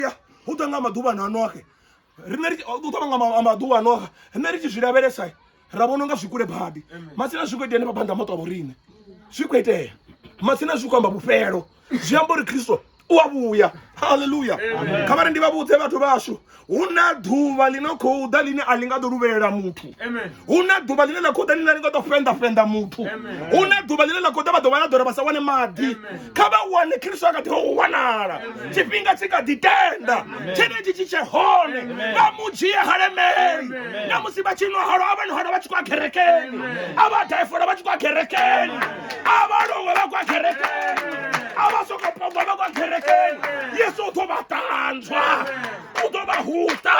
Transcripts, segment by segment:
ya hu ḓa nga maḓuvha na noxe rine ri ḓo ṱavha nga maḓuvha a noxa rine ri tshi zwi lavhelesa ra vhona nga zwi kule badi matsina zwi khou itea henefha phanḓa maṱo a vhorine zwi khou itea matsina zwi khou amba vhufhelo zwi amba uri khristo u a vhuya halleluya kha vha ri ndi vha vhudze vhathu vhashu hu na ḓuvha ḽi no khou ḓa ḽine a ḽi nga ḓo luvhelela muthu hu na ḓuvha ḽine ḽa khou ḓa ḽine ḽa nga ḓo fenda fenda muthu hu na ḓuvha ḽine ḽa khou ḓa vha ḓo vha na ḓora vha sa wane maḓi kha vha wane khristo a kha ḓi u wanala tshifhinga tshi kha ḓi tenda tshenetshi tshi tshe hone vha mu dzhie halemeli na musi vha tshi nwa halo a vha nwa halo vha tshi khou a kerekeni a vha daifola vha tshi khou a kerekeni a vha longwe vha khou a kerekeni a vha soko pomba vha khou a kerekeni yesu u ḓo vha ṱanzwa u ḓo vha huta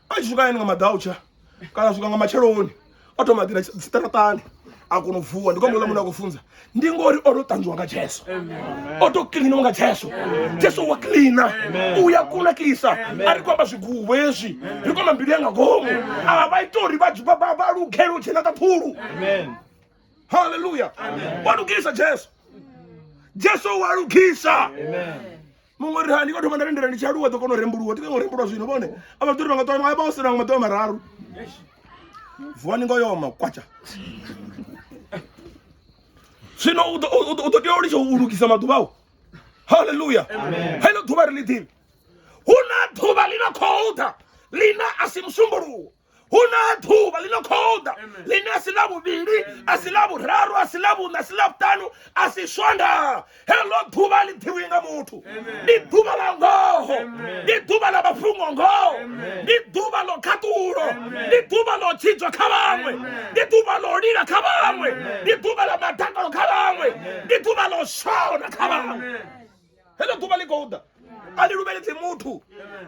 a tshi swika hayani nga madautsha kana swika nga matsheloni o thoma ḓira tsiṱaraṱani a kona u vuwa ndi khombo ḽa munhu a khou funza ndi ngori o to ṱanzwiwa nga jesu o to kiliniwa nga jesu jesu wa kilina u ya kunakisa a ri khou amba zwigubo hezwi ri khou amba mbilu ya nga ngomu a vha ita uri vha lugele u dzhena kha phulu haleluya walugisa jesu jesu o walugisa muṅwe ri hani ko thoma nda lindela ndi tshi aluwa ḓo kona u rembuluwa tika ngo rembulwa zwino vhone a vhaḓuri vha nga ṱoa a vha o sina nga maḓoa mararu vuwani ngo yoma kwatsha zwino u ḓo- u ḓo u ḓo tea u litsha u lugisa maḓuvha au haleluya heḽo ḓuvha ri ḽi ḓivhi hu na ḓuvha ḽi no khou ḓa ḽina a si musumbuluwo hu na ḓuvha ḽi no khou ḓa ḽine a si ḽa vhuvhili a si ḽa vhuraru a si ḽa vhuṋa a si ḽa vhuṱanu a si swonda heḽo ḓuvha ḽi ḓivhi nga muthu ndi ḓuvha ḽa ngoho ndi ḓuvha ḽa mafhungo ngoho ndi ḓuvha ḽo khaṱulo ndi ḓuvha ḽo tshidzwa kha vhaṅwe ndi ḓuvha ḽo lila kha vhaṅwe ndi ḓuvha ḽa madakalo kha vhaṅwe ndi ḓuvha ḽo shona kha vhaṅwe heḽo ḓuvha ḽi khou ḓa a ḽi luvheledzi muthu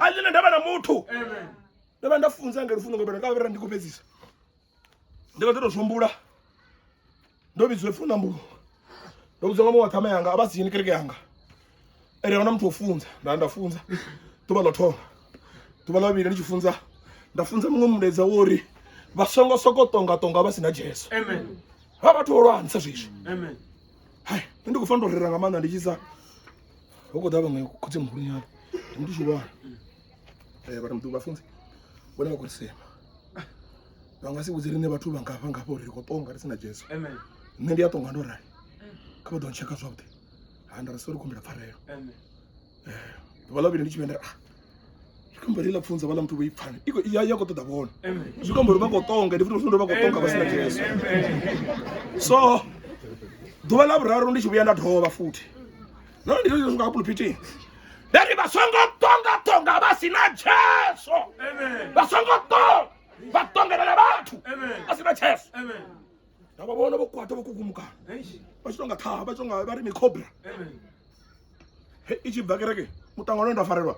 a ḽi na ndavha na muthu ndo vha nda funza nga lufuno nga bela ka vhera ndi khou fhedzisa ndi nga ḓo tou zwombula ndo vhidzwa ipfhi na mbulo ndo vhudzwa nga muṅwe wa ṱhama yanga a vha si yeni kereke yanga ene ahuna muthu wo funza nda nda funza ḓuvha ḽo thoma ḓuvha ḽa vhili ndi tshi funza nda funza muṅwe mulaedza wo uri vha songo soko tonga tonga vha si na jesu vha vhathu vho lwanisa zwiswi hai nṋe ndi khou fanela u rera nga maanḓa ndi tshisa ho khou ḓa vhaṅwe khotsi muhulunyana ndi muthu tshihulwane eh, vha mdu vhafunzi vhone vha khou ri sema vha nga si vhudze riṋe vhathu vha ngafha ngafha uri ri khou tonga ri si na jesu nṋe ndi a tonga ndo rali kha vha ḓo ntsheka zwavhuḓi ha nda ri so ri kumbela pfarelo eh, ḓuvha ḽa vhili ndi tshi vhendera ah, zwi khou mbori ḽa pfunza vhaḽa muthu vho i pfana ya ya khou ṱoḓa vhona zwi khou mbori vha khou tonga ndi futi zwino ndo vha khou tonga vha si na jesu so ḓuvha ḽa vhuraru ndi tshi vhuya nda dovha futhi no ndi zwo zwi nga pulpitini ndari vha songo tonga tonga vha si na jesu vha songo tonga vha tongelela vhathu vha si na jesu na vha vhona vho kwata vho kukumukana vha tshi tonga ṱhaha vha tshi tonga vha ri mikhobra i tshi bva kereke muṱangano nda farelwa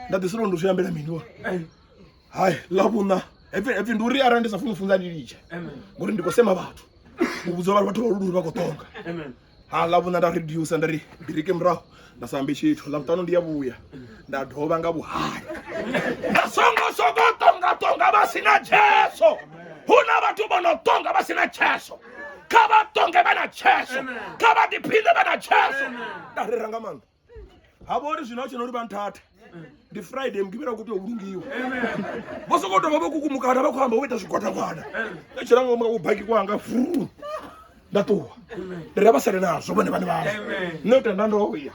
nda ḓiselo ndo zwi ambela mini wa hai ḽa vhuṋa hepfi ndi uri arali ndi sa funi funza ndi litshe ngori ndi khou sema vhathu u vhudza vhathu vhathu vha luluri vha khou tonga ha ḽa vhuna nda reduce nda ri biriki murahu nda sa ambe tshithu ḽa vhuṱanu ndi ya vhuya nda dovha nga vhuhali nda songo soko tonga tonga vha si na tsheso hu na vhathu vho no tonga vha si na tsheso kha vha tonge vha na tsheso kha vha ḓiphine vha na tsheso nda rera nga maanḓa ha vha uri zwino a tshena uri vha nthathe ndi friday mugivhela u khou tea u lungiwa vho sokou tovha vho kukumukana vha khou amba vho ita zwigwadagwada a tshela nga ngomu baki kwanga fru nda ṱuwa ndi ra vha sale nazwo vhone vhane vhazwo nṋe u tenda ndo ya